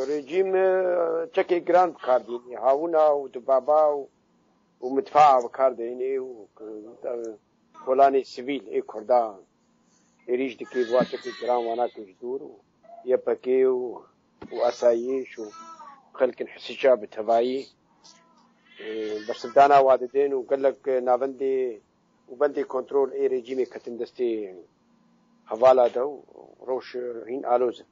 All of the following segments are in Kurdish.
Rejîm çekê giran bi kar dînî. Hawina û dibaba û mitfaa bi kar dînî û kolanê sivîl ê Kurdan êrîş dikê bi çekê giran wana kir ji dûr û YPG û û esayîş û xelkin hisica bi tevayî bersivdana wa didên û gelek navendê û bendê kontrol ê rejîmê ketin destê hevala de û rewş hîn aloz in.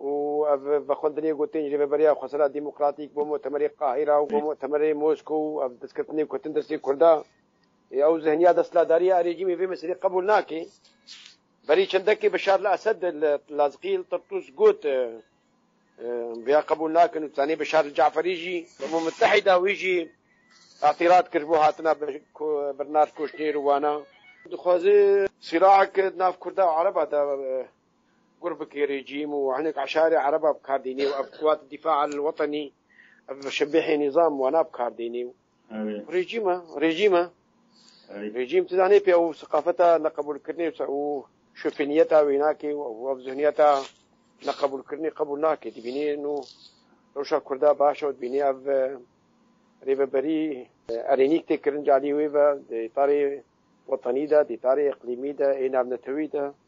û ev bi xwendinê gotin Rêveberiya Xwesera Demokratîk bo Mutemerê Qahîra û bo Mutemerê Mosko û ev destketinê ku hatin destê Kurda ê ew zihniya desthilatdarî ya rejîmê vê meselê qebûl nake. Berî çendekê Bişar li Esed li Lazqî li Tirtus got em vêya qebûl nakin û ditanê Bişar li Ce'ferî jî. Umum Mutehîda wî jî îtîrat kir ji bo hatina Bernard Kûşnêr û wana. Dixwaze sîlahek di nav Kurda û Ereba de Gurbikê rejîm û hinek eşarê ereba bi kar dînê û ev kuwat dîfa el wetenî ev şebîhê nîzam wana bi kar dînê û rejîm e rejîm e rejîm tu zanê pê ew siqafeta neqebûlkirinê û şofêniyeta wê nakê û ev zihniyeta neqebûlkirinê qebûl nake dibînê nû rewşa kurda baş e dibînê ev rêveberî erênîk tê kirin calî wê ve dê tarê wetenî de dê tarê iqlîmî de ê navnetewî de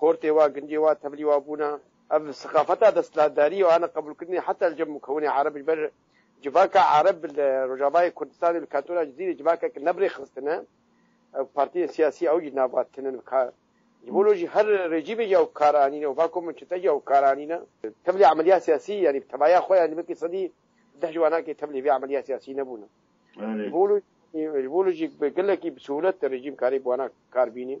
Xortê wa, gundê wa, tevlî wa bûna. Ev siqafeta desthilatdarî û ana qebûlkirinê heta li cem û kewinê Ereb ji ber civaka Ereb li Rojavayê Kurdistanê û li kantona Cizîrê civakeke ne bi rêxistin e. Ew partiyên siyasî ew jî nava tinin bi kar. Ji bo lo jî her rejîmê jî ew bi kar anîne û va ku min çete jî ew bi kar anîne. Tevlî emelîya siyasî yanî bi tevaya xwe yanî belkî sedî deh ji wanakê tevlî vê emelîya siyasî nebûne. Ji bo lo jî gelekî bi sihûlet rejîm karê bi wanak kar bînî.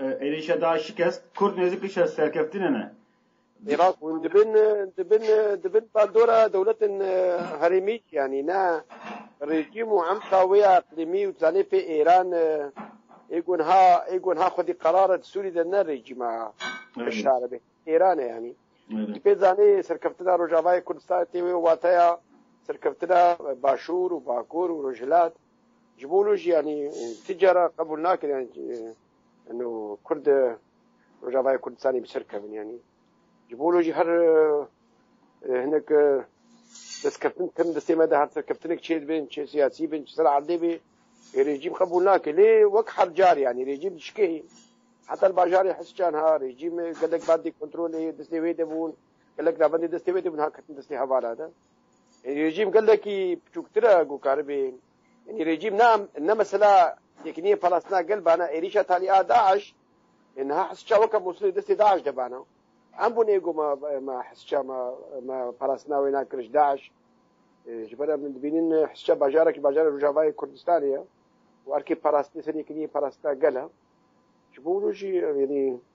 Êrîşa DAIŞ şikest, kurd nêzîk li serkeftinê ne. Îraq hûn dibin dibin dibin baldora dewletên herêmî yanî ne rejîm û emka wê ya iqlîmî û zanê pê Îran ê ku niha ê ku niha xwedî qerar e di Sûrî de ne rejîma Beşar e Îran e yanî di pê zanê serkeftina Rojavayê Kurdistanê tê wê û wateya serkeftina Başûr û Bakur û Rojhilat Ji bo nu jî yanî ti cara qebûl nakin yanî nu Kurd Rojavayê Kurdistanê bi ser kevin yanî. Ji bo nu jî her hinek destkeftîn tim destê me de her serkeftinek çê dibin, çê siyasî bin, çi ser erdê bê rejîm qebûl nake. Lê wek her car yanî rejîm dişkê heta li bajarê Hesçan ha rejîm gelek bendê kontrolê destê wê de bûn, gelek navendê destê wê de bûn ha ketin destê hevara de. Rejîm gelekî piçûktir e ku karibê Ynî rejîm ne ne mesela tekniyê palastina gel bana êrîşa talî a DAIŞ niha hesça weke Mosulê destê DAIŞ de bana. Em bûn êgo me me hesça me me palastina wê nakiriş DAIŞ. Ji ber em dibînin hesça bajarekî bajara Rojavayê Kurdistanê ye. û erkê parastinê serê yekîniyê parastina gel e. Ji bo rojî yanî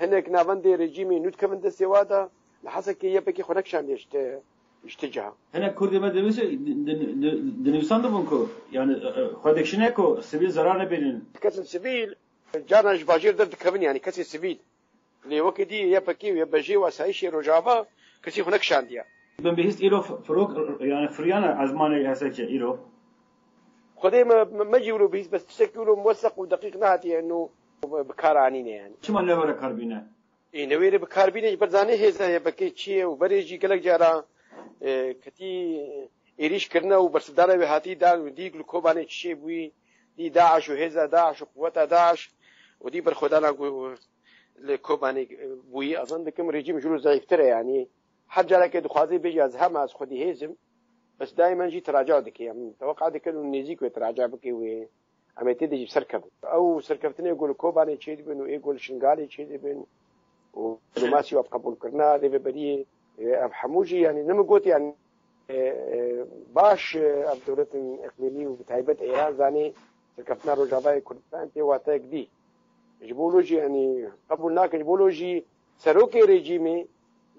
Hinek navendê rejîmê nû dikevin destê wa de li Hesekê YPKê xwe nekişandiye ji te ji te ciha. Hinek Kurdê me dibêje dinivîsan dibûn ku yani xwe dikişîne ku sivîl zerar nebînin. Kesên sivîl carna ji bajêr derdikevin yanî kesên sivîl lê wekî dî YPKê û YPJê û asayîşê Rojava kesî xwe nekişandiye. Bin bihîst îro firok yani firiyane ezmanê Hesekê îro. Xwedê me mecî wilo bihîst bes tiştekî wilo muweseq û deqîq nehatiye nû. Bi kar anîne yani. Çima newere kar bîne? Ê newêrê bi kar bîne ji ber zanê hêza ye vekê çi ye û berê jî gelek cara ketî êrîş kirine û bersivdana wê hatî dan û dî li Kobanê çi şê bûyî dî DAIŞ û hêza DAIŞ û quweta DAIŞ û dî berxwedana ku li Kobanê bûyî ez zan dikim rejîm ji rû zayîftir e yanî her carekê dixwazê bêje ez hema ez xwedî hêzim bes dayîmen jî tiraca dike em teweqa dikin û nêzîk wê tiraca bike wê Em ê têdê jî bi ser kevin. Ew serkeftinê ku li Kobanê çêdibin û ê ku li Şingalê çêdibin û diplomasî û qebûlkirina rêveberiyê ev hemû jî yanî ne min got yanî baş ev dewletin iqlîmî û bi taybet Êran zanê serkeftina Rojavayê Kurdistan tê wateyek dî. Ji bo lo jî yanî qebûl nakin ji bo lo jî serokê rejîmê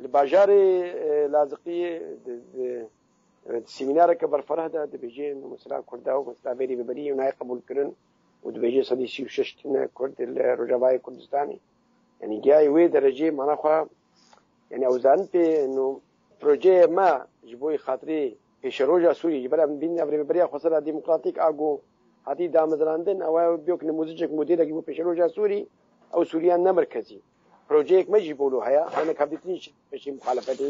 li bajarê Laziqiyê Semînareke berfireh de dibêje mesela Kurda û mesela berî bi berî nayê qebûlkirin û dibêje sedî sî û şeş tune Kurd li Rojavayê Kurdistanê yanî giyayê wê derecê mana xwe yanî ew zanin pê no projeyê me ji bo xatirê pêşeroja Sûriyê ji ber em bîn ev rêveberiya xwesera demokratîk a ku hatî damezrandin ew e biyok nimûzicek modêlekî bo pêşeroja Sûrî ew Sûriya nemerkezî projeyek me jî bolo heye hinek hevdîtinî peşê muxalefetê